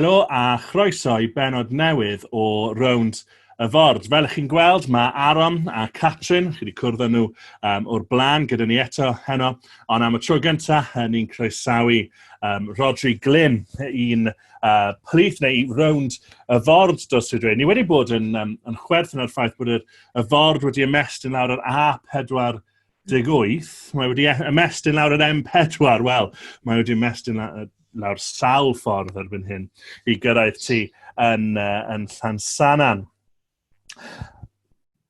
Helo a chroeso i benod newydd o Rownd y Ford. Fel ych chi'n gweld, mae Aron a Catrin, chi wedi cwrdd â nhw um, o'r blaen gyda ni eto heno, ond am y tro gyntaf, ni'n croesawu um, Rodri Glyn, un uh, plith neu rownd y ford dros y dre. Ni wedi bod yn, um, yn chwerthin ar ffaith bod y, y ford wedi ymestyn lawr yr A4 deg wyth, mae wedi e- ymestyn lawr yr M4, wel, mae wedi ymestyn lawr sawl ffordd erbyn hyn i gyrraedd ti yn, uh, yn Llansanan.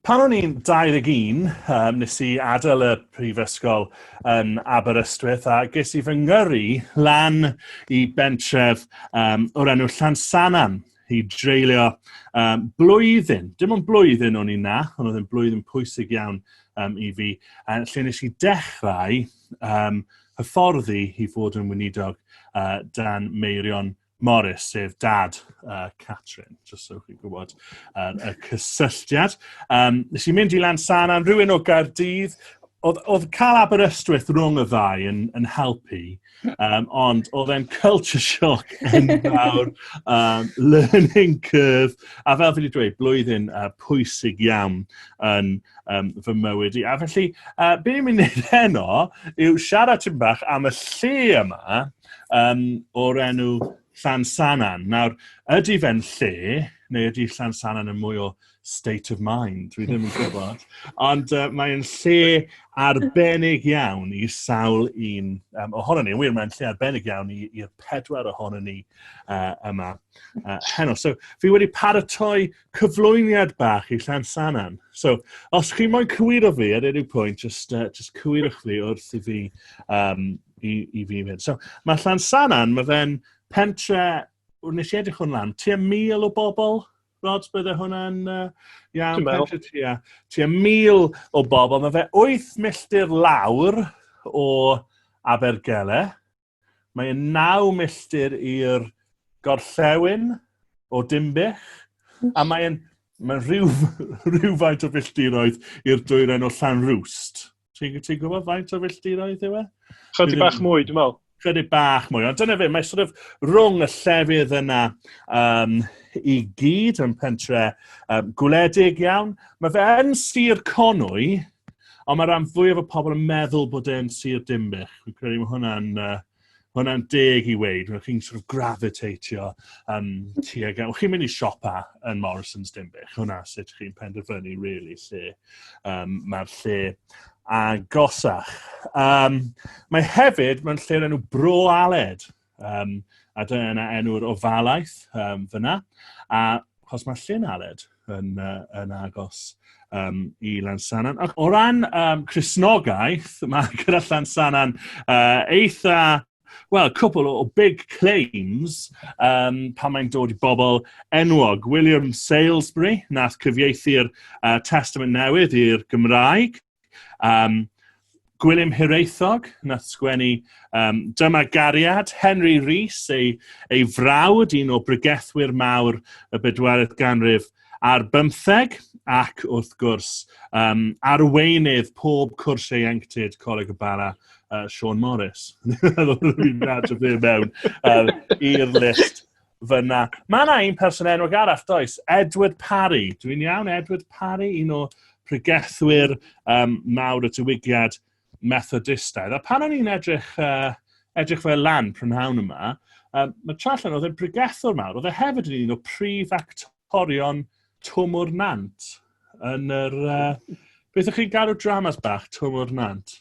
Pan o'n i'n 21, um, nes i adael y prifysgol yn Aberystwyth a ges i fy ngyrru lan i bentref um, o'r enw Llansanan i dreulio um, blwyddyn, dim ond blwyddyn o'n i na, ond oedd yn blwyddyn pwysig iawn um, i fi, a lle nes i dechrau um, hyfforddi i fod yn wynidog uh, dan meirion Morris, sef dad uh, Catrin, jyst so chi'n gwybod uh, y cysylltiad. Um, nes i mynd i Lansana, rhywun o Gaerdydd, oedd, oedd cael Aberystwyth rhwng y ddau yn, yn helpu, um, ond oedd e'n culture shock yn fawr, um, learning curve, a fel fi wedi dweud, blwyddyn uh, pwysig iawn yn um, fy mywyd i. A felly, uh, beth ni'n mynd i wneud heno yw siarad tyn bach am y lle yma, um, o'r enw Llansanan. Nawr, ydy fe'n lle, neu ydy Llansanan yn mwy o state of mind, dwi ddim yn gwybod. Ond uh, mae'n lle arbennig iawn i sawl un um, ohono ni. Wir, mae'n lle arbennig iawn i'r pedwar ohono ni uh, yma uh, heno. So, fi wedi paratoi cyflwyniad bach i Llan Sanan. So, os chi moyn cywiro fi ar unrhyw pwynt, just, uh, just cywirwch fi wrth i fi, um, i, i fi mynd. So, mae Llan Sanan, mae fe'n pentre, nes i edrych hwn lan, tua mil o bobl, Rods, bydde hwnna'n uh, iawn, pentre tua, tua mil o bobl. Mae fe wyth milltir lawr o Abergele. Mae yn naw milltir i'r gorllewin o Dimbych, a mae yn mae rhyw, rhywfaint o filltiroedd i'r dwyren o Llanrwst. Ti'n ti gwybod faint o filltiroedd yw e? Chydig bach mwy, dwi'n meddwl. Chydig bach mwy, ond dyna fe, mae sort of rhwng y llefydd yna um, i gyd yn pentre um, gwledig iawn. Mae fe yn sir Conwy, Ond mae rhan fwyaf o pobl yn meddwl bod e'n sir dimbych. Fi'n credu mae hwnna'n uh, hwnna'n deg i weid, Rwy'n chi'n sort of gravitateio um, tuag at... Chi'n mynd i siopa yn Morrison's Dimbych, hwnna sut chi'n penderfynu, really, lle um, mae'r lle agosach. Um, mae hefyd, mae'n lle enw Bro Aled. Um, a dyna yna enw'r ofalaeth um, fyna. A chos mae Llyn Aled yn, uh, yn agos um, i Lansanan. Ac o ran um, Cresnogaeth, mae gyda Llansanan uh, eitha well, cwpl o big claims um, pan mae'n dod i bobl enwog. William Salesbury, nath cyfieithu'r uh, Testament Newydd i'r Gymraeg, Um, Gwilym Hiraethog, na sgwennu um, Dyma Gariad, Henry Rees, ei, ei frawd, un o brygethwyr mawr y bedwaredd ganrif ar bymtheg, ac wrth gwrs um, arweinydd pob cwrs ieuenctid Coleg y Bara, uh, Sean Morris. Dwi'n nad o fe mewn uh, i'r list. fyna. Mae yna un person enwog arall, does? Edward Parry. Dwi'n iawn, Edward Parry, un o pregethwyr um, mawr y diwygiad Methodistaidd. A pan o'n i'n edrych, uh, edrych fel lan prynhawn yma, um, mae Trallan oedd yn pregethwr mawr, oedd e hefyd yn un o prif actorion Twmwr Nant yn yr... Uh, beth ydych chi'n gadw dramas bach, Twmwr Nant?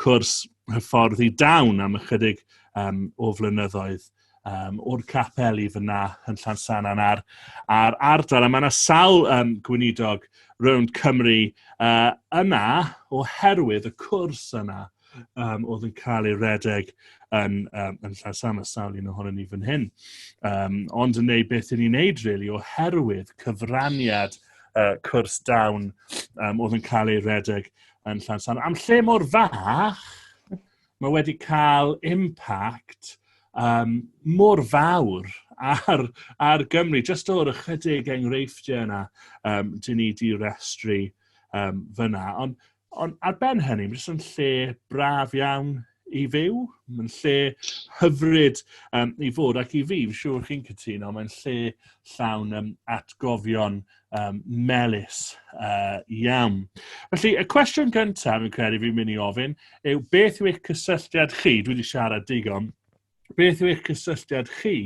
cwrs hyfforddi dawn am ychydig um, o flynyddoedd um, o'r capel i fyna yn Llansanan a'r, ar ardal. A mae yna sawl um, gweinidog rownd Cymru uh, yna oherwydd y cwrs yna um, oedd yn cael ei redeg yn, um, yn Llansan, a sawl un ohono ni fan hyn. Um, ond yn neud beth i ni'n neud, really, oherwydd cyfraniad uh, cwrs dawn um, oedd yn cael ei redeg yn Llansan. Am lle mor fach, mae wedi cael impact um, mor fawr ar, ar Gymru, jyst o'r ychydig enghreifftiau yna, um, dyn ni di restru um, fyna. Ond on, ar ben hynny, mae jyst yn lle braf iawn i fyw, mae'n lle hyfryd um, i fod, ac i fi, fi'n siŵr chi'n cytuno, mae'n lle llawn um, atgofion um, melus uh, iawn. Felly, y cwestiwn gyntaf, fi'n credu fi'n mynd i ofyn, yw beth yw eich cysylltiad chi, dwi wedi siarad digon, beth yw eich cysylltiad chi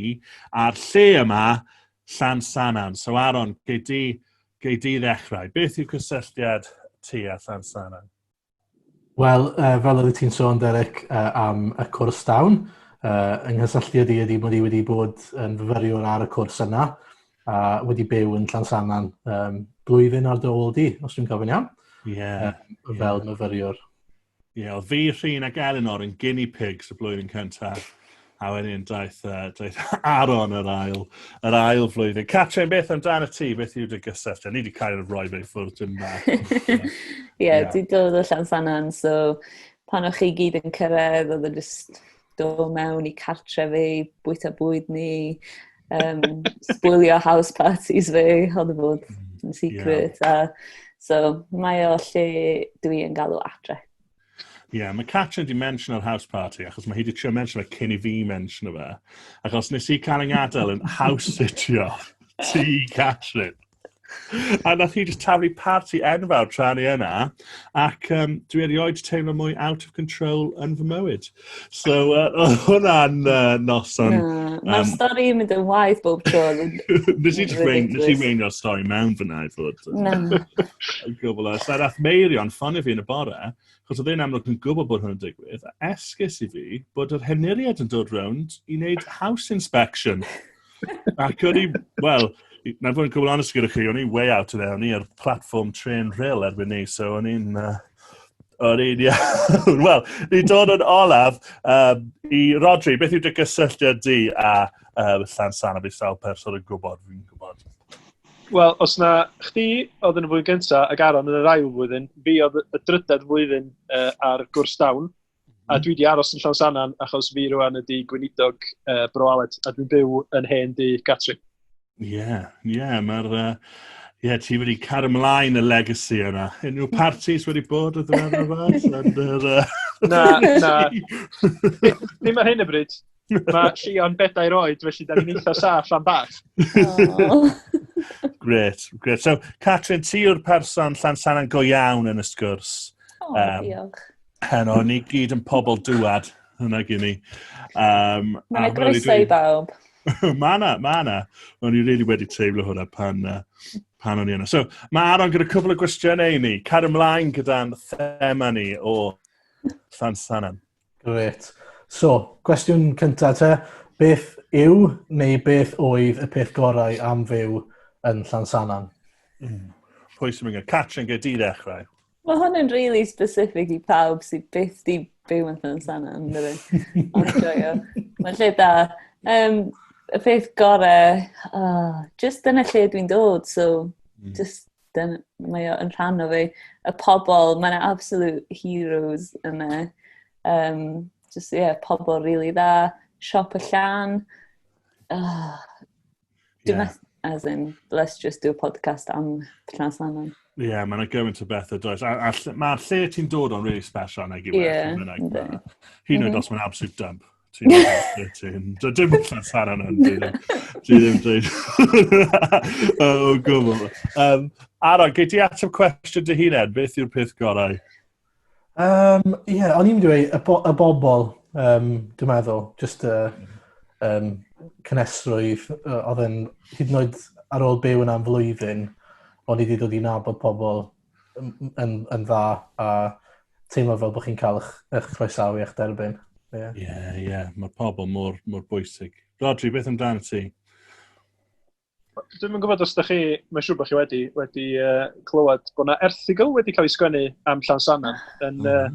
a'r lle yma, Llan Sanan? So, Aaron, gei di, gei di ddechrau. Beth yw cysylltiad ti a Llan Sanan? Wel, uh, fel oeddet ti'n sôn, Derek, uh, am y cwrs dawn, uh, yng nghysylltiad i ydy mod i wedi bod yn fyfyriwr ar y cwrs yna, a wedi byw yn Llansannan um, blwyddyn ar dywol di, os dwi'n gofyn iawn, yeah, uh, fel yeah. myfyriwr. Ie, yeah, oedd fi, Rhyn ac Eleanor yn guinea pigs y blwyddyn cyntaf. A wedyn daeth, uh, daeth Aaron yr ail, yr ail flwyddyn. Catrin, beth amdano ti? Beth yw dy gysylltu? Ni wedi cael rhoi fe i ffwrdd dyn ma. Ie, yeah, di dod o llan sanan, so pan o'ch chi gyd yn cyrraedd, oedd yn e just do mewn i cartre fi, bwyta bwyd ni, um, sbwylio house parties fi, oedd y e bod mm, yn secret. Yeah. A, so mae o lle dwi yn galw adre. Ie, yeah, mae Catrin di mention yr house party, achos mae hi di trio mention fe cyn i fi mention fe. Achos nes i cael yng ngadael yn house sitio ti, Catrin. A na chi just taflu party enfawr tra ni yna, ac um, dwi erioed teimlo mwy out of control yn fy mywyd. So, uh, oedd hwnna'n uh, noson... Yeah. Mae'r um, stori yn mynd yn waith bob tro. Nes i weinio'r stori mewn fyna i fod. Na. Gwbl o. So, rath Meirion ffonio fi yn y bore, chos oedd e'n amlwg yn gwybod bod hwnna'n digwydd, a esgus i fi bod yr henuriad yn dod rownd i wneud house inspection. Ac o'n i, wel, na fod yn cwbl onest gyda chi, o'n i way out of there, o'n i ar platform tren rhyl erbyn ni, so o'n i'n... Uh, o'n i'n iawn. Wel, ni dod yn olaf um, i Rodri, beth yw dy gysylltiad di a um, llan san a fi sawl person yn gwybod, fi'n gwybod. Wel, os na chdi oedd yn y flwyddyn gyntaf ac Aaron yn yr ail flwyddyn, fi oedd y drydedd flwyddyn uh, ar gwrs dawn. A dwi wedi aros yn Llawsanan achos fi rwan ydi gweinidog uh, Bro Aled, a dwi'n byw yn hen di Catrin. Ie, yeah, ie, yeah, mae'r... Uh, Ie, yeah, ti wedi car ymlaen y legacy yna. Unrhyw parties wedi bod o dweud yma? Na, na. Ddim ar hyn y bryd. Mae Llion bedair oed, felly da ni'n eitha saff am bach. Gret, gret. So, Catrin, ti yw'r person llan sanan go iawn yn y sgwrs. O, um, diolch. Heno, ni gyd yn pobl dŵad, hwnna gyn ni. Um, Mae'n y groeso i bawb. mae na, mae na. O'n i really wedi teimlo hwnna pan, uh, pan o'n i yna. So, mae Aron gyda cwbl o gwestiynau i ni. Car ymlaen gyda'n thema ni o Llan Sanan. Grêt. So, cwestiwn cyntaf te. Beth yw neu beth oedd y peth gorau am fyw yn Llansannan? Mm. Pwy sy'n mynd? Catrin, gael di ddechrau. Mae hwn yn really specific i pawb sydd byth di byw yn Llansannan, dydy. Ond joio. Mae'n lle da. Um, y peth gorau, oh, just dyna lle dwi'n dod, so mm. just dyn, mae o yn rhan o fi. Y pobl, mae'n absolute heroes yna. Um, just, ie, yeah, pobl rili really dda. Siop y llan. Oh, Dwi'n yeah. as in, let's just do a podcast am Plas Lannan. Ie, yeah, mae'n gymaint o beth o does. Mae'r lle ti'n dod o'n really special nag i yeah. Hyn oed mm-hmm. os mae'n absolute dump. Ti ddim yn Dim allan Sara na. Ti ddim yn dweud. O, gwbl. Um, Ara, gei ti ateb cwestiwn dy hunain? Beth yw'r peth gorau? Um, Ie, yeah, o'n i'n dweud y, bo y bobl, um, dwi'n meddwl, just y um, cynesrwydd, oedd yn hyd yn oed ar ôl byw yna'n flwyddyn, o'n i wedi dod i nabod pobl yn, yn dda a teimlo fel bod chi'n cael eich, eich croesawu eich derbyn. Ie, yeah. ie. Yeah, yeah. Mae pobl mor, mor bwysig. Rodri, beth amdano ti? Dwi'n gwybod os da chi, mae'n siŵr bod chi wedi, wedi uh, clywed bod yna erthigol wedi cael ei sgwennu am Llansannan yn, mm. uh,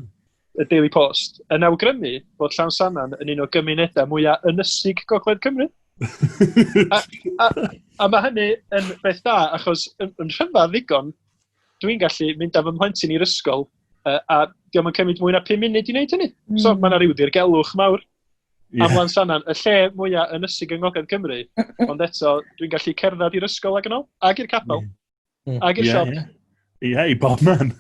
y Daily Post, yn awgrymu bod Llawnsana'n yn un o gymunedau mwyaf ynysig Gogledd Cymru. a, a, a mae hynny yn beth da, achos yn, yn rhyfedd ddigon, dwi'n gallu mynd â fy mhlentyn i'r ysgol, uh, a diolch yn cymryd mwy na 5 munud i wneud hynny. Mm. So mae yna rhyw ddirgelwch mawr. Yeah. Am Lansanan, y lle mwyaf ynysig yng Ngogledd Cymru, ond eto dwi'n gallu cerdded i'r ysgol ac yn ôl, ac i'r capel. Yeah. Mm. Ag y siop. Ie, yeah, i bob man.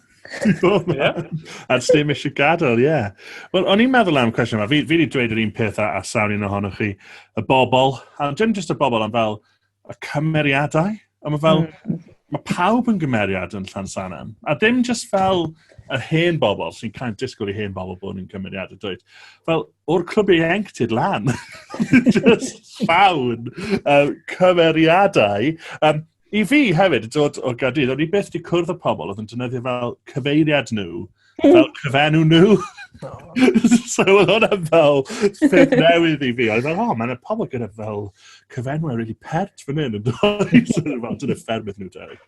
yeah. At ddim eisiau gadael, ie. Yeah. Wel, o'n i'n meddwl am cwestiwn yma. Fi, fi wedi dweud yr un peth a, a sawn un ohonoch chi. Y bobl, a dim jyst y bobl, ond fel y cymeriadau. A mae fel, mm. mae pawb yn gymeriad yn Llansanan. A dim jyst fel yr hen bobl sy'n cael disgwyl i hen bobl bod yn cymeriad y dweud. Fel, o'r clwb ieuenctid lan. Just llawn um, cymeriadau. Um, I fi hefyd, yn dod o Gaerdydd, o'n i byth wedi cwrdd y pobl oedd yn dynyddio fel cyfeiriad nhw, hmm. fel cyfenw nhw. so oedd hwnna fel ffyrdd newydd i fi. Oedd fel, oh, mae'n pobl gyda fel cyfenw e'r really pert fan hyn yn dod. fel, dyna ffermydd nhw, Derek.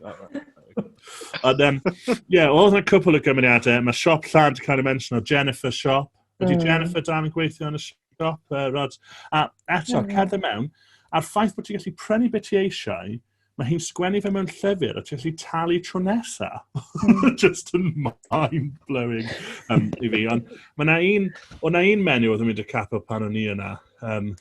Ond, um, ie, yeah, oedd yna cwpl o gymeriadau. Mae siop llan, dwi'n cael ei mention o Jennifer Siop. Wedi mm. Jennifer dan yn gweithio yn y siop, uh, Rod. A eto, mm. cerdded mewn, a'r ffaith bod ti'n gallu prynu beth ti eisiau, mae hi'n sgwennu fe mewn llyfr a ti'n gallu talu tro nesa. Mm. Just yn mind-blowing um, i fi. Ond mae na un, o na un menu oedd yn mynd y capel pan o'n i yna. Um,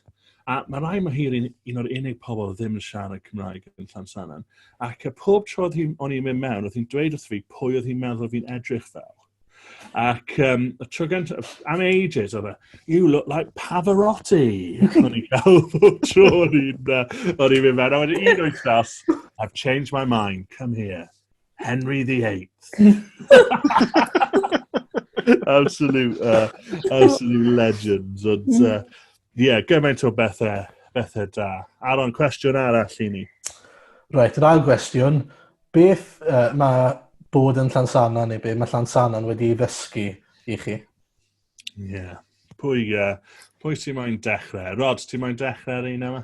a mae rai mae hi'r un, un o'r unig pobl ddim yn siarad Cymraeg yn Llansanan. Ac y pob tro oedd hi'n o'n i'n mynd mewn, oedd hi'n dweud wrth fi pwy oedd hi'n meddwl fi'n edrych fel. Ac um, y tro gyntaf, am ages, oedd e, you look like Pavarotti. O'n i'n cael bob tro, o'n i'n uh, mynd mewn, a wedyn un o'i staff, I've changed my mind, come here. Henry the Eighth. absolute, uh, absolute legends. Ond, uh, Ie, yeah, gymaint o bethau, bethau da. Aron, cwestiwn arall i ni. Reit, yr ail gwestiwn. Beth uh, mae bod yn Llansana neu be mae Llansana'n wedi ddysgu i chi? Ie. Yeah. Pwy, uh, pwy sy'n moyn dechrau? Rod, ti'n moyn dechrau ar un yma?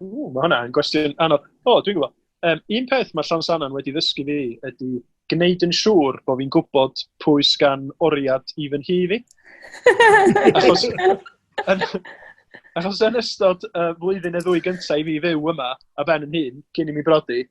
Ww, mae hwnna'n gwestiwn anodd. O, dwi'n gwybod. Um, un peth mae Llansannan wedi ddysgu fi ydy gwneud yn siŵr bod fi'n gwybod pwy sgan oriad i fy nhi fi. achos, yn, achos yn ystod y uh, flwyddyn y ddwy gyntaf i fi fyw yma, a ben yn hun, cyn i mi brodi,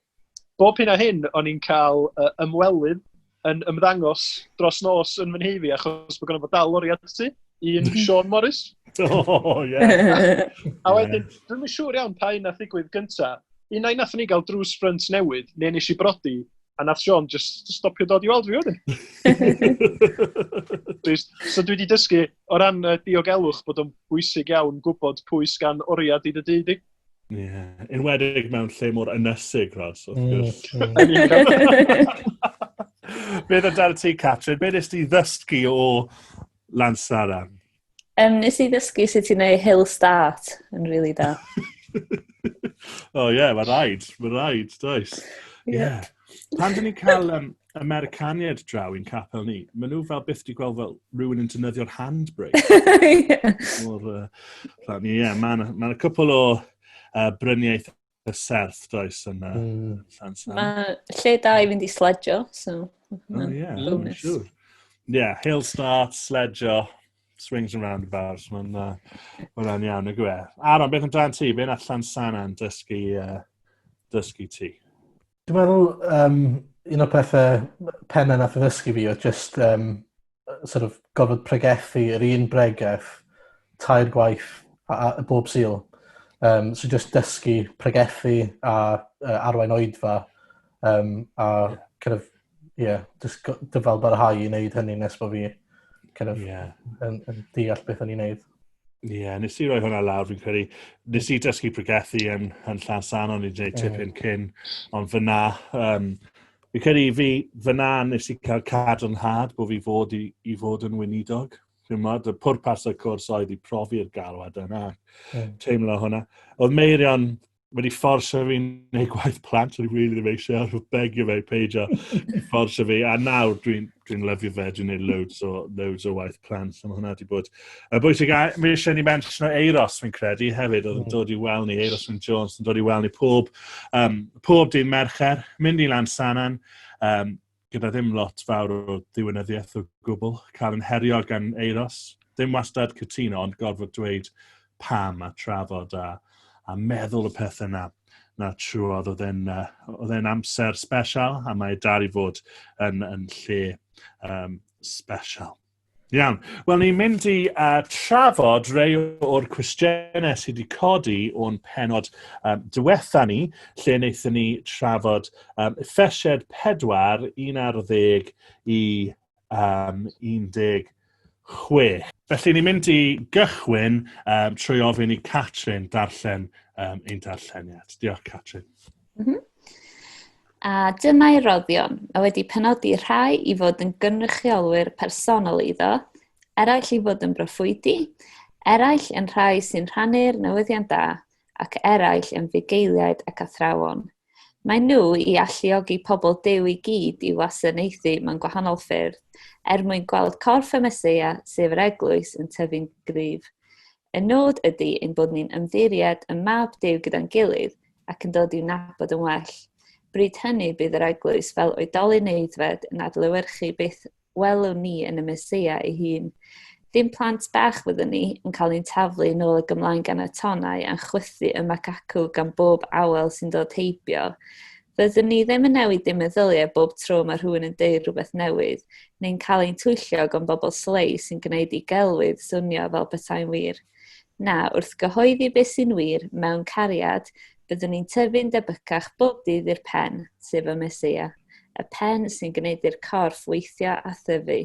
bob hyn a hyn o'n i'n cael uh, ymwelydd yn ymddangos dros nos yn fy nheifi achos bod gynnu bod dal lori at ti, un Sean Morris. O, oh, ie. Yeah. a wedyn, dwi'n siŵr iawn pa un nath ddigwydd gynta. Un na'i nath ni gael drws ffrynt newydd, neu nes i brodi, a nath Sean just stopio dod i weld fi wedyn. so dwi wedi dysgu o ran uh, diogelwch bod o'n bwysig iawn gwybod pwy sgan oriad i dy dyd i. Ie, yn wedig mewn lle mor ynysig, Ros, wrth mm, gwrs. Beth o dan ti, Catrin? Beth nes ti ddysgu o Lansara? Um, nes i ddysgu sut ti'n ei hill start yn rili really da. oh, ie, yeah, mae rhaid. Mae rhaid, does. Ie. Yeah. Pan dyn ni'n cael um, y Mercaniaid draw i'n capel ni. Mae nhw fel byth di gweld fel rhywun yn dynyddio'r handbrake. yeah. O'r, uh, ni, yeah, mae yna ma cwpl o uh, bryniaeth y serth does yn uh, mm. Llansan. Mae lle da i fynd i sledjo, so... Oh, yeah, I'm sure. Yeah, hill start, sledjo, swings and roundabouts, mae'n uh, ma iawn y gwe. Aron, beth amdano ti? Be'n allan Sanan dysgu, uh, dysgu ti? Dwi meddwl yym un o'r pethe m- penne nath e ddysgu fi odd jyst yym yy sor' of gorfod pregethu yr un bregeth tair gwaith a- a- bob Sul. Yym so jyst dysgu pregethu a yy arwain oedfa yym a kin' of ie, just go- dyfal barhau i wneud hynny nes bod fi kind of, yeah. yn, yn deall beth o'n i'n neud. Ie, yeah, nes i roi hwnna lawr, fi'n credu. Nes i dysgu pregethu yn, yn llan san o'n i'n gwneud tip hyn cyn, ond fyna, um, fi'n credu i fi, fyna nes i cael cadw'n had bod fi fod i, i fod yn wynidog. Fi'n modd, y pwrpas y cwrs oedd i profi'r galwad yna, mm. teimlo hwnna. Oedd Meirion wedi fforsa fi neu gwaith plant, o'n i really ddim eisiau, oedd begio fe i peidio fforsa fi, a nawr dwi'n dwi, lyfio fe, dwi'n neud loads o, loads o waith plant, so mae hwnna wedi bod. A bwysig, a mi eisiau ni mention o Eiros, fi'n credu, hefyd, oedd yn mm. dod i wel ni, Eiros Wyn Jones, yn dod i wel ni pob, um, pob dyn mercher, mynd i Lansanan, um, gyda ddim lot fawr o ddiwinyddiaeth o gwbl, cael yn herio gan Eiros, ddim wastad cytuno ond gorfod dweud pam a trafod a, a meddwl y pethau na, na trwodd. Oedd e'n uh, amser special a mae dal i fod yn, yn lle um, special. Iawn. Wel, ni'n mynd i uh, trafod rei o'r cwestiynau sydd wedi codi o'n penod um, diwetha ni, lle wnaethon ni trafod um, effesied 4, 11 i um, 16. Felly, ni'n mynd i gychwyn um, trwy ofyn i Catrin darllen um, ein darlleniad. Diolch, Catrin. Mm -hmm. A dyma'i roddion. Mae wedi penodi rhai i fod yn gynrychiolwyr personol iddo, eraill i fod yn broffwydi, eraill yn rhai sy'n rhannu'r newyddion da, ac eraill yn fugeiliaid ac athrawon. Mae nhw i alluogi pobl dew i gyd i wasanaethu mewn gwahanol ffyrdd, er mwyn gweld corff y Mesoea, sef yr eglwys, yn tyfu'n gryf. Y nod ydy ein bod ni'n ymddiried ym mab Duw gyda'n gilydd ac yn dod i'w nabod yn well. Bryd hynny bydd yr eglwys fel oedolyn aeddfed yn adlewyrchu beth welwn ni yn y Meseia ei hun. Dim plant bach fyddwn ni yn cael ein taflu yn ôl ag ymlaen gan y tonnau a'n chwythu ym ac acw gan bob awel sy'n dod heibio. Fyddwn ni ddim yn newid dim meddyliau bob tro mae rhywun yn deud rhywbeth newydd, neu'n cael ein twyllo gan bobl slei sy'n gwneud i gelwydd swnio fel petai'n wir. Na, wrth gyhoeddi beth sy'n wir, mewn cariad, byddwn ni'n tyfu'n debycach bob dydd i'r Pen, sef y Meseia, y Pen sy'n gwneud i'r corff weithio a thyfu.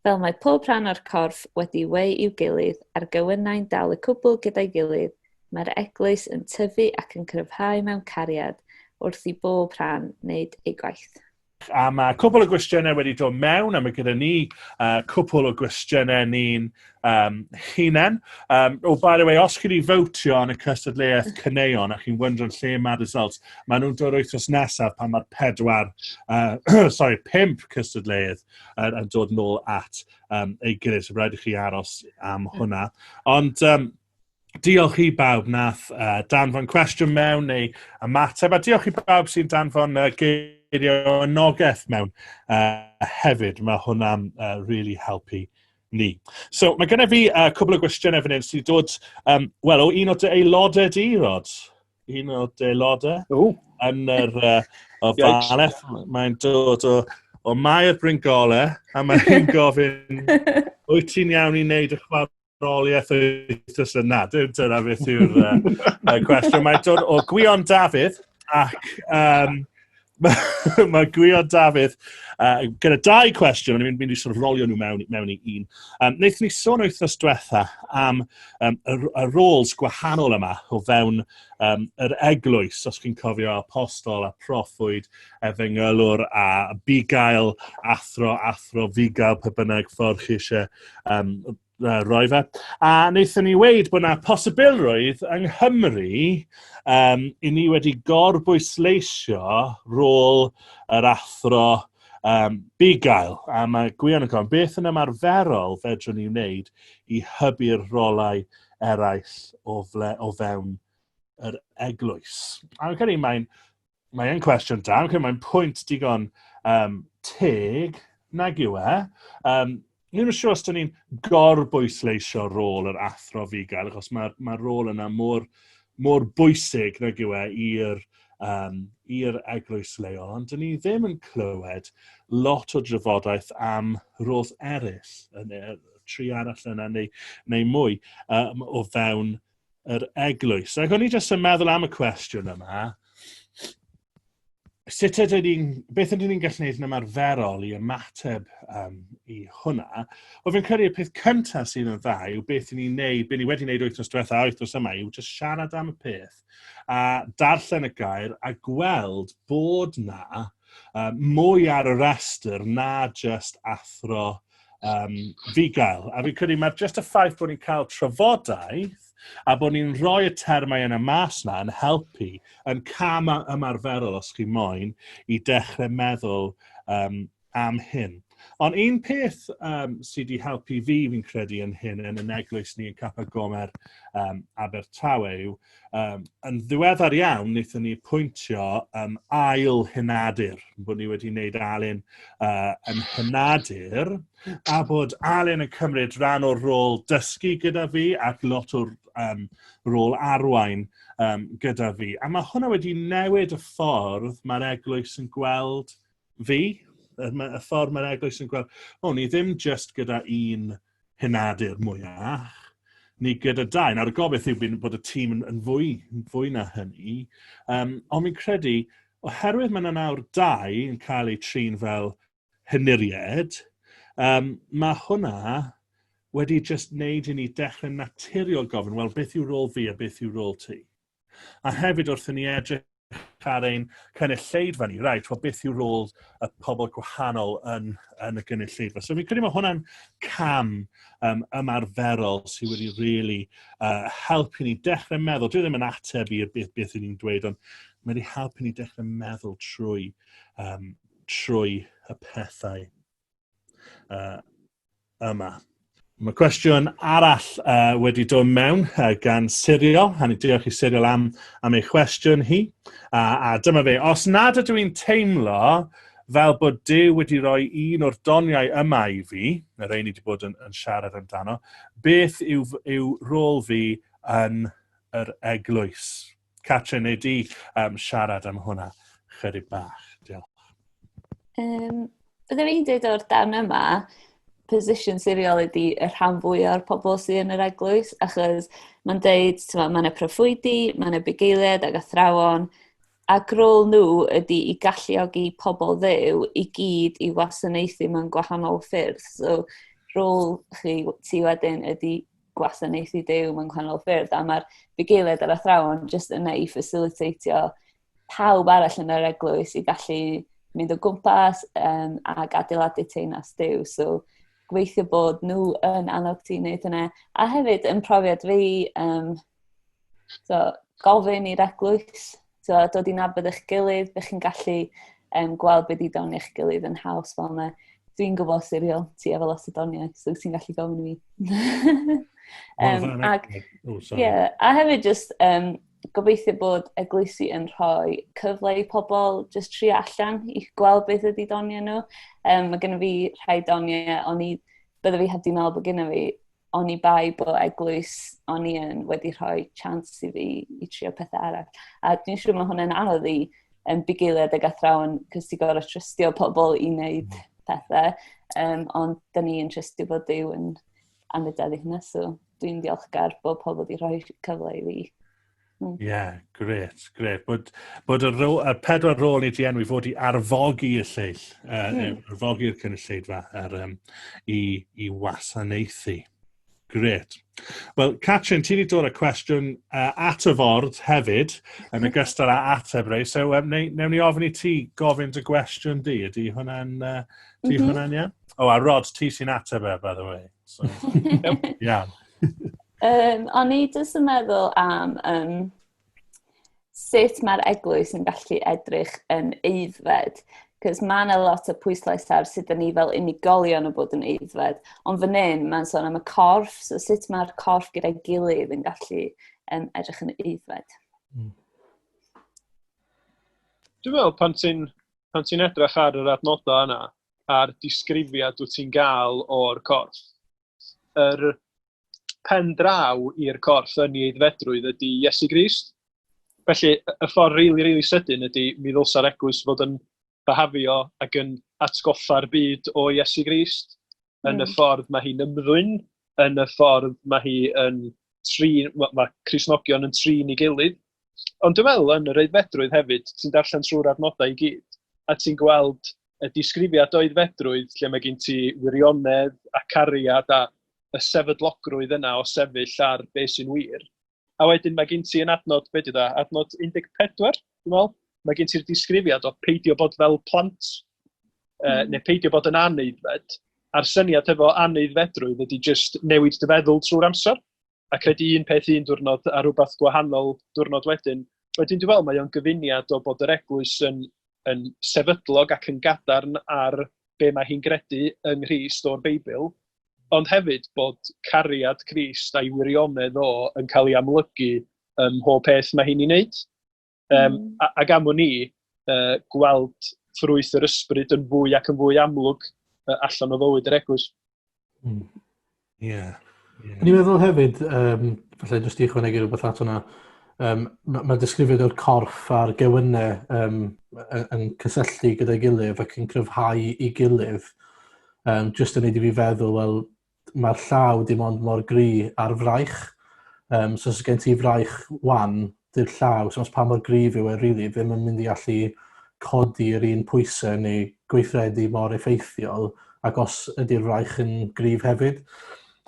Fel mae pob rhan o'r corff wedi weu i'w gilydd, a'r gewynnau'n dal y cwbl gyda'i gilydd, Mae'r Eglwys yn tyfu ac yn cryfhau mewn cariad wrth i bob rhan wneud ei gwaith. A mae cwpl o gwestiynau wedi dod mewn, a mae gyda ni uh, cwpl o gwestiynau ni'n um, hunan. Um, oh, by the way, os chi wedi fawtio yn y cystadleuaeth cyneuon a chi'n wyndro'n lle mae'r results, mae nhw'n dod wythnos nesaf pan mae'r pedwar, uh, sorry, pimp cystadleuaeth uh, yn dod nôl at um, ei gilydd, so rhaid i chi aros am hwnna. Ond um, diolch i bawb nath uh, danfon cwestiwn mewn neu ymateb, a diolch i bawb sy'n danfon uh, geirio anogaeth mewn uh, hefyd. Mae hwnna'n uh, really helpu ni. So, mae gennym fi uh, cwbl o gwestiynau fan hyn sy'n dod, um, wel, o un o dy aelodau di, Rod. Un o dy aelodau. O. Yn yr uh, o Baleth. Mae'n dod o, o Mair Bryngolau, a mae'n gofyn, wyt ti'n iawn i wneud y chwarae ôliaeth wythnos yna. Dyna beth yw'r uh, cwestiwn. Mae'n dod o Gwion Dafydd ac um, mae ma Gwion Dafydd uh, gyda dau cwestiwn, ond ni'n mynd i sort of rolio nhw mewn, mewn i un. Um, Wnaethon ni sôn wythnos diwetha am um, y, y roles gwahanol yma o fewn um, yr eglwys, os chi'n cofio apostol a proffwyd efengylwr a bugail, athro, athro, fugail, pe bynnag ffordd chi eisiau um, roi fe. A wnaethon ni weid bod yna posibilrwydd yng Nghymru um, i ni wedi gorbwysleisio rôl yr athro um, bugail. A mae Gwion yn gofyn, beth yn ymarferol fedrwn ni wneud i hybu'r rolau eraill o, fle, o fewn yr eglwys? A fi'n credu mae'n Mae'n cwestiwn da, okay, mae'n pwynt digon um, teg, nag yw e. Um, Ni'n siŵr os dyn ni'n gorbwysleisio rôl yr athro figael, achos mae'r mae rôl yna mor, mor bwysig nag yw e i'r um, i'r eglwys leol, ond dyn ni ddim yn clywed lot o drafodaeth am rôls eraill, yn, tri arall yna neu, neu mwy, um, o fewn yr eglwys. Ac o'n i jyst yn meddwl am y cwestiwn yma, sut ydw ni'n, beth ydw ni'n gallu gwneud yn ymarferol i ymateb um, i hwnna? O fi'n credu y peth cyntaf sydd yn dda yw beth ni'n neud, beth ni wedi neud wythnos diwetha a wythnos yma yw just siarad am y peth a darllen y gair a gweld bod na uh, mwy ar y restr na just athro um, fugail. A fi'n credu mae'r just y ffaith bod ni'n cael trafodaeth a bod ni'n rhoi y termau yna mas na yn helpu yn cam ymarferol os chi moyn i dechrau meddwl um, am hyn. Ond un peth um, sydd wedi helpu fi, fi'n credu, yn hyn yn y neglwys ni yn Capa Gomer um, Abertawe yw Um, yn ddiweddar iawn, wnaethon ni pwyntio um, ail hynadur, bod ni wedi wneud Alun uh, yn hynadur, a bod Alun yn cymryd rhan o'r rôl dysgu gyda fi ac lot o'r um, rôl arwain um, gyda fi. A mae hwnna wedi newid y ffordd mae'r eglwys yn gweld fi, y, y ffordd mae'r eglwys yn gweld, o, ni ddim just gyda un hynadu'r mwyach, ni gyda dau. Nawr, y gobeith yw bod y tîm yn, yn fwy, yn fwy na hynny, um, ond mi'n credu, oherwydd mae yna nawr dau yn cael eu trin fel hynuried, um, mae hwnna wedi just wneud i ni dechrau naturiol gofyn, wel, beth yw rôl fi a beth yw rôl ti? A hefyd wrth i ni edrych ar ein cynulleidfa ni, right, well, beth yw rôl y pobl gwahanol yn, yn y gynulleidfa. So fi'n credu mae hwnna'n cam um, ymarferol sydd wedi really uh, helpu ni dechrau meddwl. Dwi ddim yn ateb i'r beth, beth ni'n dweud, ond mae wedi helpu ni dechrau meddwl trwy, um, trwy y pethau uh, yma. Mae cwestiwn arall uh, wedi dod mewn uh, gan Sirio, a ni diolch i Sirio am, am ei chwestiwn hi. A, a dyma fe, os nad ydw i'n teimlo fel bod Dyw wedi rhoi un o'r doniau yma i fi, y rei ni wedi bod yn, yn siarad amdano, beth yw, yw rôl fi yn yr eglwys? Catrin, neu di um, siarad am hwnna chydig bach? Diolch. Um, Byddwn i'n dweud o'r dan yma, position siriol ydy y rhan fwy o'r pobl sydd yn yr eglwys, achos mae'n dweud, mae yna proffwydi, mae yna bugeiliad ac athrawon, ac rôl nhw ydy i galluogi pobl ddew i gyd i wasanaethu mewn gwahanol ffyrdd. So, rôl chi ti wedyn ydy gwasanaethu dew mewn gwahanol ffyrdd, a mae'r bugeiliaid ar athrawon jyst yna i faciliteitio pawb arall yn yr eglwys i gallu mynd o gwmpas um, ac adeiladu teinas dew. So, gweithio bod nhw yn annog ti wneud hynna. A hefyd, yn profiad fi, um, So, gofyn i'r eglwys, so, dod i'n abod eich gilydd, bych chi'n gallu um, gweld beth i doni eich gilydd yn haws fel yna. Dwi'n gwybod siriol ti efo lot o doniau, so ti'n gallu gofyn i mi. um, ac, oh, yeah, a hefyd just um, gobeithio bod eglwysi yn rhoi cyfle i pobl just tri allan i gweld beth ydy doniau nhw. Um, mae gennym fi rhai doniau, ond i, byddai fi heb di meddwl bod gennym fi oni bai bod eglwys o'n i yn wedi rhoi chans i fi i trio pethau arall. A dwi'n siŵr mae hwnna'n anodd i um, bugeiliad ag athrawon, cys ti'n gorau trystio pobl i wneud mm. pethau, um, ond da ni yn trystio bod Dyw yn anfydedd i hynna, so dwi'n diolchgar bod pobl wedi rhoi cyfle i fi Mm. Yeah, gret, gret. Bod, bod y, ro, y pedwar rôl i ti enw i fod i arfogi y lleill, uh, mm. arfogi'r cynulleidfa ar, um, i, i wasanaethu. Gret. Wel, Catrin, ti wedi dod â cwestiwn uh, at y ford hefyd, yn y gystal â ateb rei, so um, ne, newn ni ofyn i ti gofyn dy gwestiwn di, ydy hwnna'n uh, mm -hmm. hwnna iawn? O, a Rod, ti sy'n ateb e, by the way. So, yeah. um, o'n i jyst yn meddwl am um, sut mae'r eglwys yn gallu edrych yn eiddfed. Cos mae yna lot o pwyslais ar sut ni fel unigolion o bod yn eiddfed. Ond fan hyn, mae'n sôn am y corff, so sut mae'r corff gyda'i gilydd yn gallu um, edrych yn eiddfed. Mm. Dwi'n meddwl, pan ti'n pan ti'n edrych ar yr adnodau yna, a'r disgrifiad dwyt ti'n gael o'r corff. Yr pen draw i'r corff yn ei aeddfedrwydd ydy Iesu Grist. Felly, y ffordd rili, really, rili really sydyn ydy mi ddylsa'r eglwys fod yn byhafio ac yn atgoffa'r byd o Iesu Grist, yn mm. y hmm. ffordd mae hi'n ymddwyn, yn y ffordd mae hi yn trin, mae, mae Crisnogion yn trin i gilydd, Ond dwi'n meddwl yn yr aeddfedrwydd hefyd, ti'n darllen trwy'r adnodau i gyd, a ti'n gweld y disgrifiad o aeddfedrwydd lle mae gen ti wirionedd a cariad a y sefydlogrwydd yna o sefyll ar be sy'n wir. A wedyn mae gen ti yn adnod, be dwi dda, adnod 14, dwi'n meddwl, mae gen ti'r disgrifiad o peidio bod fel plant, uh, mm. neu peidio bod yn aneiddfed, a'r syniad hefo aneiddfedrwydd ydy just newid dy feddwl trwy'r amser. a credu un peth un diwrnod a rhywbeth gwahanol diwrnod wedyn. Wedyn dwi'n meddwl mae o'n gyfuniad o bod yr eglwys yn, yn sefydlog ac yn gadarn ar be mae hi'n gredu yng Nghyst o'r Beibl, ond hefyd bod cariad Crist a'i wirionedd o yn cael ei amlygu ym mhob peth mae hi'n ei wneud. Um, mm. Ac am ni, uh, gweld ffrwyth yr ysbryd yn fwy ac yn fwy amlwg uh, allan o fywyd yr eglwys. Ie. Mm. Yeah. Yeah. Ni'n meddwl hefyd, um, falle jyst i chwanegu rhywbeth at hwnna, um, mae ma disgrifiad o'r corff a'r gewynnau um, yn cysylltu gyda'i gilydd ac yn cryfhau i gilydd, um, jyst yn neud i fi feddwl, wel, mae'r llaw dim ond mor gry ar fraich. Um, so os gen ti fraich wan, dy'r llaw, so os pa mor gryf yw e, really, ddim yn mynd i allu codi'r un pwysau neu gweithredu mor effeithiol ac os ydy'r fraich yn gryf hefyd.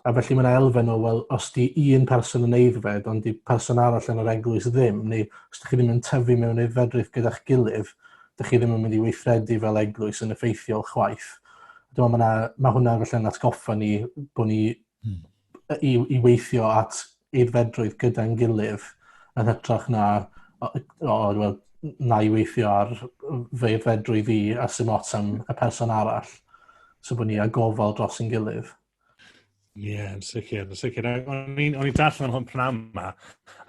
A felly mae'n elfen o, wel, os di un person yn eiddfed ond di person arall yn yr eglwys ddim, neu os ydych chi ddim yn tyfu mewn eiddfedrwydd gyda'ch gilydd, ydych chi ddim yn mynd i weithredu fel eglwys yn effeithiol chwaith. Dwi'n meddwl, mae, na, mae hwnna felly'n atgoffa ni bod ni hmm. i, i weithio at eidfedrwydd gyda'n gilydd yn hytrach na o, o, well, na i weithio ar fy eidfedrwydd i a sy'n ots am y person arall. So bod ni a gofal dros yn gilydd. Ie, yn sicr, yn sicr. O'n i'n o'n i'n darllen am hwn pnawn yma,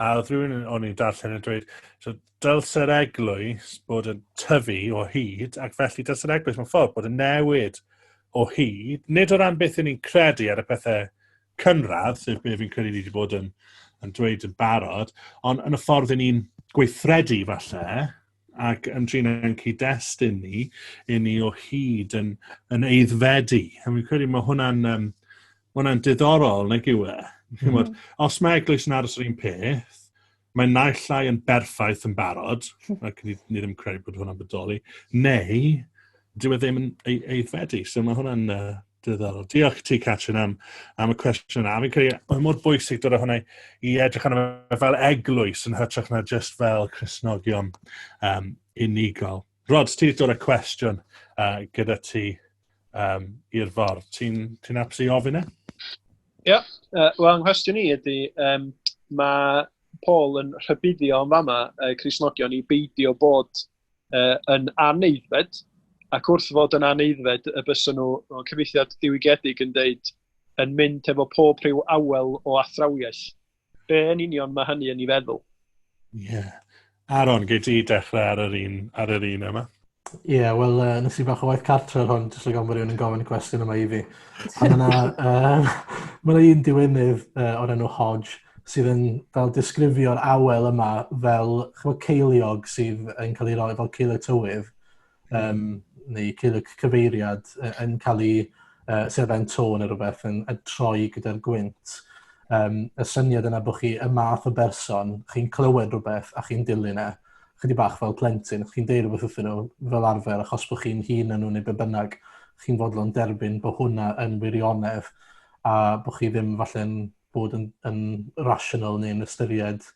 a oedd rhywun yn- o'n i'n darllen yn dweud, so, dylse'r eglwys bod yn tyfu o hyd, ac felly dylse'r eglwys mewn ffordd bod yn newid o hyd, nid o ran beth yn ni'n credu ar y pethau cynradd, sef beth fi'n credu ni wedi bod yn, yn dweud yn barod, ond yn y ffordd yn ni'n gweithredu falle, ac yn trin ein cyd-destun ni, i ni o hyd yn, yn eiddfedu. A fi'n credu mae hwnna'n um, ma hwnna diddorol, nag yw e? Mm -hmm. Os mae eglwys yn aros yr un peth, mae naill llai yn berffaith yn barod, ac ni, ni ddim yn credu bod hwnna'n bodoli, neu dyw e ddim yn eiddfedu. So mae hwnna'n uh, Diddorol. Diolch ti, Catrin, am, am y cwestiwn yna. Fi'n credu, mae mor bwysig dod o hwnna i edrych arno fe fel eglwys yn hytrach na just fel Cresnogion um, unigol. Rod, ti wedi dod y cwestiwn uh, gyda ti um, i'r for. Ti'n ti apus i ofyn e? Ie, yeah, uh, wel, nghwestiwn i ydy, um, mae Paul yn rhybuddio yn fama uh, Cresnogion i beidio bod uh, yn aneidfed, ac wrth fod yn aneidfed y bysyn nhw, o cyfeithiad diwygiedig yn deud, yn mynd efo pob rhyw awel o athrawiaeth. Be yn union mae hynny yn ei feddwl? Ie. Yeah. Aaron, gei ti dechrau ar yr un, ar yr un yma? Ie, yeah, wel, uh, nes i bach o waith cartref hwn, jyst like bod rhywun yn gofyn y cwestiwn yma i fi. A mae yna, uh, mae yna un diwynydd uh, o'r enw Hodge, sydd yn fel disgrifio'r awel yma fel chymod, ceiliog sydd yn cael ei roi fel ceiliog tywydd, um, neu ceiliog cyfeiriad yn cael ei uh, sefen to neu rhywbeth yn, yn troi gyda'r gwynt. Um, y syniad yna bod chi y math o berson, chi'n clywed rhywbeth a chi'n dilyn e, chydig bach fel plentyn, chi'n deud rhywbeth wrthyn nhw fel arfer achos bod chi'n hun yn nhw neu be bynnag, chi'n fodlon derbyn bod hwnna yn wirionedd a bod chi ddim falle'n bod yn, yn rational neu'n ystyried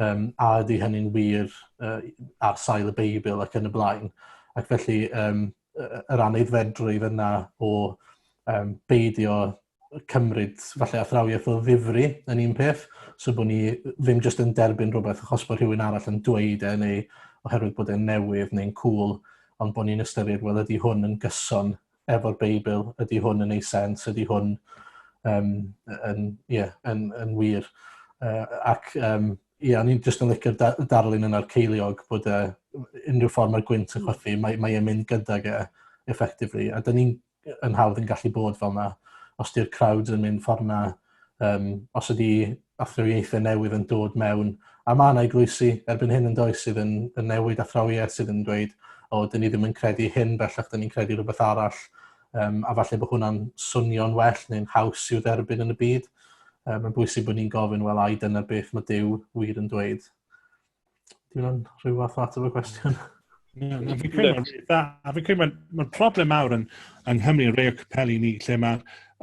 um, a ydy hynny'n wir uh, ar sail y Beibl ac yn y blaen. Ac felly, um, yr aneidfedrwydd yna o um, beidio cymryd falle athrawiaeth o ddifri yn un peth, so bod ni ddim jyst yn derbyn rhywbeth achos bod rhywun arall yn dweud e neu oherwydd bod e'n newydd neu'n cool, ond bod ni'n ystyried, wel, ydy hwn yn gyson efo'r Beibl, ydy hwn yn ei sens, ydy hwn um, yn, yeah, yn, yn wir. Uh, ac um, ie, yeah, o'n i'n jyst yn licio'r da darlun yna'r ceiliog bod e, unrhyw ffordd mae'r gwynt yn chwythu, mae, mae e'n mynd gydag e, effectively. A dyn ni'n yn hawdd yn gallu bod fel yna, os di'r crowd yn mynd ffordd yna, um, os ydy athrywieithau newydd yn dod mewn, a mae yna eglwysi erbyn hyn yn does sydd yn, yn newid athrawiaeth sydd yn dweud, o, dyn ni ddim yn credu hyn, bellach dyn ni'n credu rhywbeth arall, um, a falle bod hwnna'n swnio'n well neu'n haws i'w dderbyn yn y byd. Um, mae'n bwysig bod ni'n gofyn, wel, ai dyna beth mae Dyw wir yn dweud. Dwi'n yn rhyw fath o ateb y cwestiwn. Na, na, fi'n credu mae'n dda. A fi'n credu mae'n ma problem mawr yn, yng Nghymru, yn rei o capeli ni, lle mae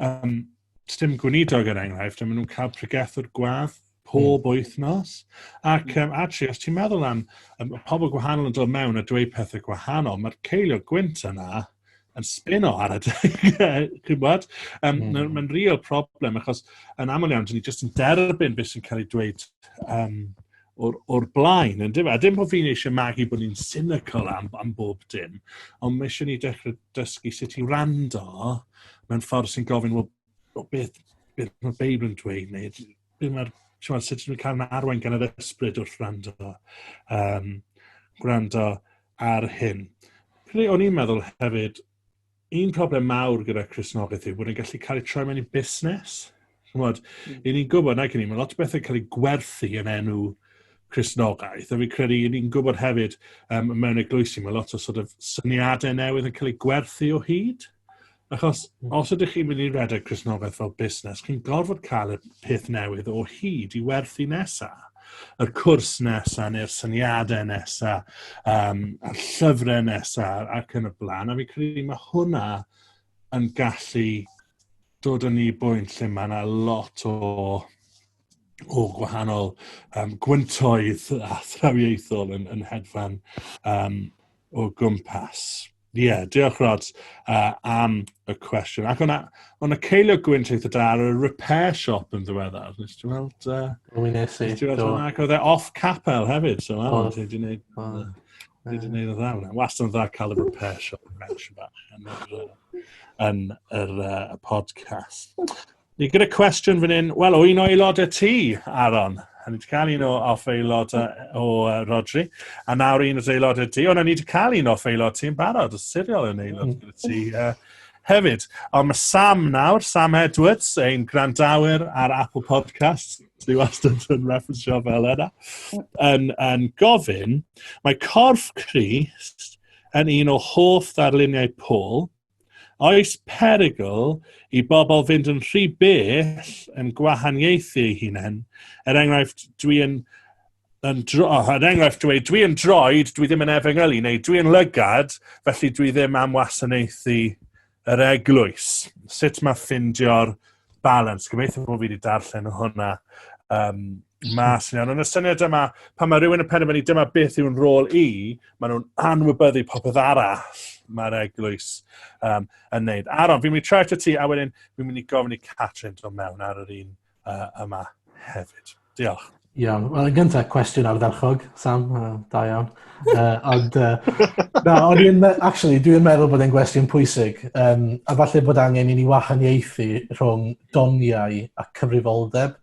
um, stim gweinidog yn er enghraifft, a maen nhw'n cael pregethwr gwadd pob mm. wythnos. Ac um, hmm. actually, os ti'n meddwl am um, pobl gwahanol yn dod mewn a dweud pethau gwahanol, mae'r ceilio gwynt yna yn spin o ar y chymod. Um, mm. Mae'n ma real problem, achos yn aml iawn, dyn ni jyst yn derbyn beth sy'n cael ei dweud um, o'r, or blaen, yn dweud. A dim bod fi'n eisiau magu bod ni'n cynical am, am bob dim, ond mae eisiau ni dechrau dysgu sut i rando mewn ffordd sy'n gofyn, well, beth, beth mae Beibl yn dweud, neu be' ma'r t'mod sut ti'n cael na arwain gan yr ysbryd wrth wrando yym gwrando ar hyn. Pry o'n i'n meddwl hefyd un problem mawr gyda Cristnogaeth yw bod e'n gallu cael ei troi mewn i busnes. Ch'mod, mm. i ni'n gwybod nag i ni, mae lot o bethau cael ei gwerthu yn enw Cristnogaeth, a fi'n credu i ni'n gwybod hefyd um, mewn eglwysi, mae lot o sort of syniadau newydd yn cael ei gwerthu o hyd. Achos hmm. os ydych chi'n mynd i redeg Cresnogaeth fel busnes, chi'n gorfod cael y peth newydd o hyd i werthu nesaf. Yr cwrs nesaf, neu'r syniadau nesaf, um, a'r llyfrau nesaf, ac yn y blaen. A fi credu mae hwnna yn gallu dod yn ni bwynt lle mae yna lot o o gwahanol um, gwyntoedd a thrawiaethol yn, yn hedfan um, o gwmpas. Ie, yeah, diolch Rod uh, am y cwestiwn. Ac o'na, o'na ceilio gwynt eitha da ar y repair shop yn ddiweddar. Nes ti weld... Uh, o, mi nes i. Nes ti weld hwnna, ac oedd e off capel hefyd. So, oh, ti wedi gwneud... Oh. Ti wedi gwneud o dda hwnna. Wast yn dda cael y repair shop yn mention bach yn yr, yn yr uh, podcast. Ni gyda cwestiwn fan hyn, wel, o un o aelod y tŷ, Aaron. A ni wedi cael un o off aelod o uh, Rodri. A nawr un o aelod y tŷ. O, na, ni wedi cael un off aelod tŷ'n barod. Y siriol yn aelod mm. y tŷ. Uh, hefyd. Ond mae Sam nawr, Sam Edwards, ein grandawyr ar Apple Podcasts, dwi wastad yn referensio fel yna, yn, yn gofyn, mae corff Christ yn un o hoff ddarluniau Paul, Oes perygl i bobl fynd yn rhy bell yn gwahaniaethu eu hunain? Er enghraifft, dwi yn yn dro, oh, er enghraifft, dwi, dwi yn droed, dwi ddim yn efengylu, neu dwi yn lygad, felly dwi ddim am wasanaethu yr eglwys. Sut mae ffindio'r balans? Gobeithio bod fi wedi darllen hwnna um, Mas yn iawn. Ond y syniad yma, pan mae rhywun yn penderfynu dyma beth yw'n rôl i, maen nhw'n anwybyddu popeth arall mae'r eglwys um, yn neud. Aron, fi'n mynd i trefft y ti, a wedyn fi'n mynd i gofyn i Catrin dod mewn ar yr un uh, yma hefyd. Diolch. Iawn. Wel, yn gyntaf, cwestiwn ardderchog, Sam, uh, da iawn. Uh, ond, uh, na, ond dwi'n, actually, dwi'n meddwl bod e'n gwestiwn pwysig, um, a falle bod angen i ni wahaniaethu rhwng doniau a cyfrifoldeb.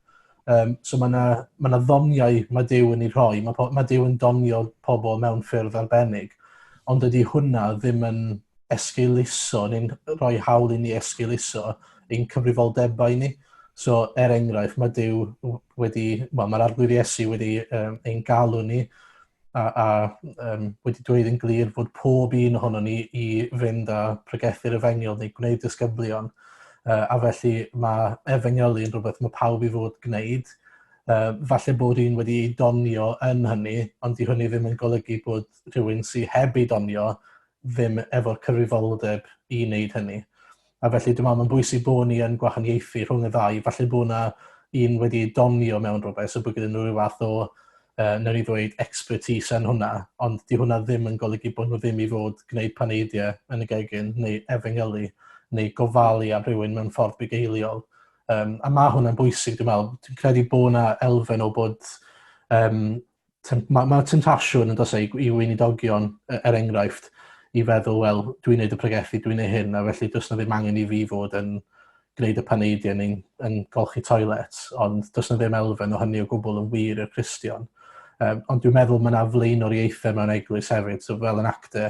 Um, so mae yna ma ddoniau mae Dyw yn ei rhoi, mae, mae Dyw yn donio pobl mewn ffyrdd arbennig, ond dydy hwnna ddim yn esgeuluso neu'n rhoi hawl i ni esgeuluso ein cyfrifoldebau ni. So, er enghraifft, mae Dyw wedi, wel, mae'r arglwydd Iesu wedi um, ein galw ni a, a um, wedi dweud yn glir fod pob un ohono ni i fynd â pregethu'r efengyl neu gwneud disgyblion. Uh, a felly mae efengylu yn rhywbeth mae pawb i fod gwneud. Uh, falle bod un wedi ei donio yn hynny, ond di hynny ddim yn golygu bod rhywun sy'n heb ei donio ddim efo'r cyfrifoldeb i wneud hynny. A felly dwi me'wl ma'n bwysig bo' ni yn gwahaniaethu rhwng y ddau falle bo' 'na un wedi ei donio mewn rwbeth so bo' gynnyn n'w ryw fath o yy newn ni ddweud expertise yn hwnna ond 'di hwnna ddim yn golygu bo' n'w ddim i fod gwneud paneidie yn y gegin neu efengylu neu gofalu am rhywun mewn ffordd bugeiliol. Yym a ma' hwnna'n bwysig dwi me'wl. Dwi'n credu bo' 'na elfen o bod yym Mae ma temtasiwn yn dos e, i i weinidogion e- er enghraifft i feddwl wel dwi'n neud y pregethu dwi'n neud hyn a felly does 'na ddim angen i fi fod yn gwneud y paneidiau neu'n yn golchi toilets ond does 'na ddim elfen o hynny o gwbl yn wir i'r Cristion. Yym ond dwi'n meddwl mae 'na flaenoriaethau mewn eglwys hefyd so fel yn acte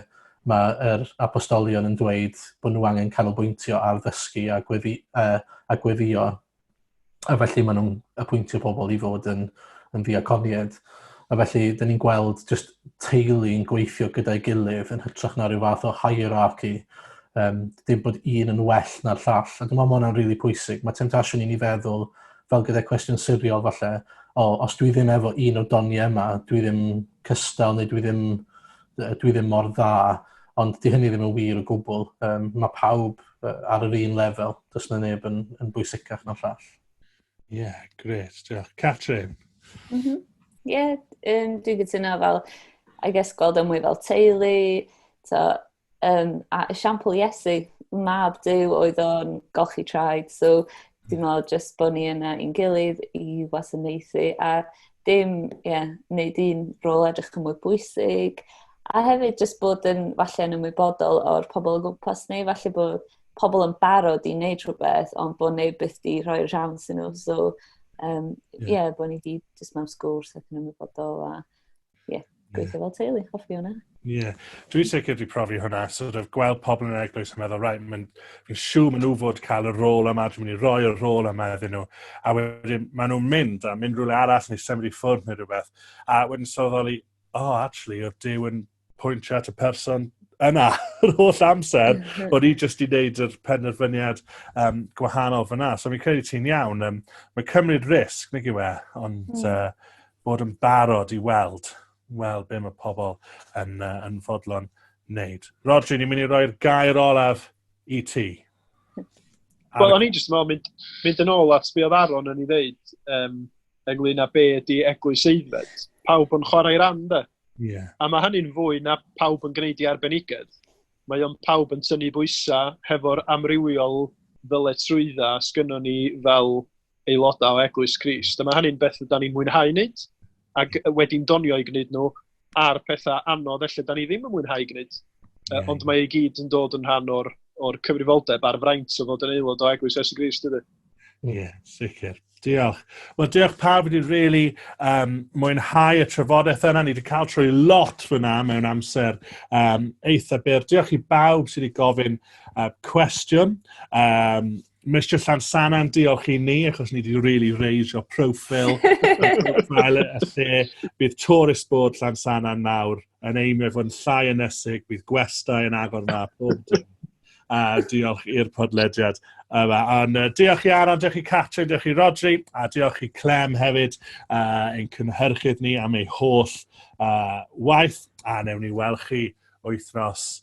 mae yr apostolion yn dweud bod nhw angen canolbwyntio ar ddysgu a gweddi- yy a gweddïo a felly maen nhw'n apwyntio pobl i fod yn, yn ddiaconiad. A felly, dyn ni'n gweld just teulu'n gweithio gyda'i gilydd yn hytrach na rhyw fath o hierarchy. Um, dim bod un yn well na'r llall. A dwi'n meddwl mae hwnna'n rili really pwysig. Mae temptasiwn i ni feddwl, fel gyda'r cwestiwn siriol falle, o, os dwi ddim efo un o'r doniau yma, dwi ddim cystal neu dwi ddim, dwi ddim mor dda, ond di hynny ddim yn wir o gwbl. Um, mae pawb ar yr un lefel. Does na neb yn, yn bwysicach na'r llall. Ie, yeah, gret, diolch. Catrin? Ie, mm -hmm. yeah, um, dwi'n gytuno fel, I guess, gweld yn e mwy fel teulu, to, um, a esiampl Iesu, mab Dyw oedd o'n golchi traed, so dim ond jyst bod ni yna i'n gilydd i wasanaethu, a dim, ie, yeah, wneud un rôl edrych yn mwy bwysig, a hefyd jyst bod yn falle yn ymwybodol o'r pobl o gwmpas ni, falle bod pobl yn barod i wneud rhywbeth, ond bod neb byth di rhoi'r siawns yn nhw, so, ie, um, yeah. yeah, bod ni di jyst mewn sgwrs ac yn ymwybodol, a ie. Yeah. gweithio fel teulu, hoffi hwnna. Ie. Yeah. Dwi'n sicr wedi profi hwnna, sort of gweld pobl yn eglwys yn meddwl, right, mae'n fi siw maen nhw fod cael y rôl yma, dwi'n mynd i roi y rôl yma iddyn nhw. A wedyn maen nhw'n mynd a mynd rhywle arall neu symud i ffwrdd neu rhywbeth. A wedyn sylweddoli, oh, actually, oedd Dyw yn pwyntio at y person yna yr holl amser, mm -hmm. o'n i jyst i wneud yr penderfyniad um, gwahanol fyna. So mi'n credu ti'n iawn, um, mae'n cymryd risg, nid yw e, ond mm. uh, bod yn barod i weld, weld be mae pobl yn, uh, yn fodlon wneud. Rodri, ni'n mynd i roi'r gair olaf i ti. Wel, o'n i'n jyst yn mynd, mynd yn ôl at be oedd Aron yn ei ddeud um, ynglyn â be ydi eglwys eiddfed. Pawb yn chwarae ran, de. Yeah. A mae hynny'n fwy na pawb yn gwneud i arbenigedd. Mae o'n pawb yn tynnu bwysau hefo'r amrywiol ddyletrwydda sgynnon ni fel aelodau o Eglwys Crist. Dyma hynny'n beth rydyn ni'n mwynhau wneud, ac wedi'n donio i gwneud nhw a'r pethau anodd felly da ni ddim yn mwynhau gwneud. Yeah. Ond mae ei gyd yn dod yn rhan o'r, or cyfrifoldeb a'r fraint o fod yn aelod o Eglwys Iesu Grist, ydy. Ie, yeah, sicr. Diolch. Wel, diolch pawb wedi rili really, um, mwynhau y trafodaeth yna. Ni wedi cael trwy lot fyna mewn amser um, eitha byr. Diolch i bawb sydd wedi gofyn uh, cwestiwn. Um, Mr Llansannan, diolch i ni, achos ni wedi really reisio profil profile y lle. Bydd tourist board Llansannan nawr yn eimio fod yn llai ynesig, bydd gwestau yn agor na pob dim. A diolch i'r podlediad yma. Ond uh, diolch i Aron, diolch i Catrin, diolch i Rodri, a diolch i Clem hefyd, uh, ein cynhyrchydd ni am ei holl uh, waith, a newn ni weld chi wythnos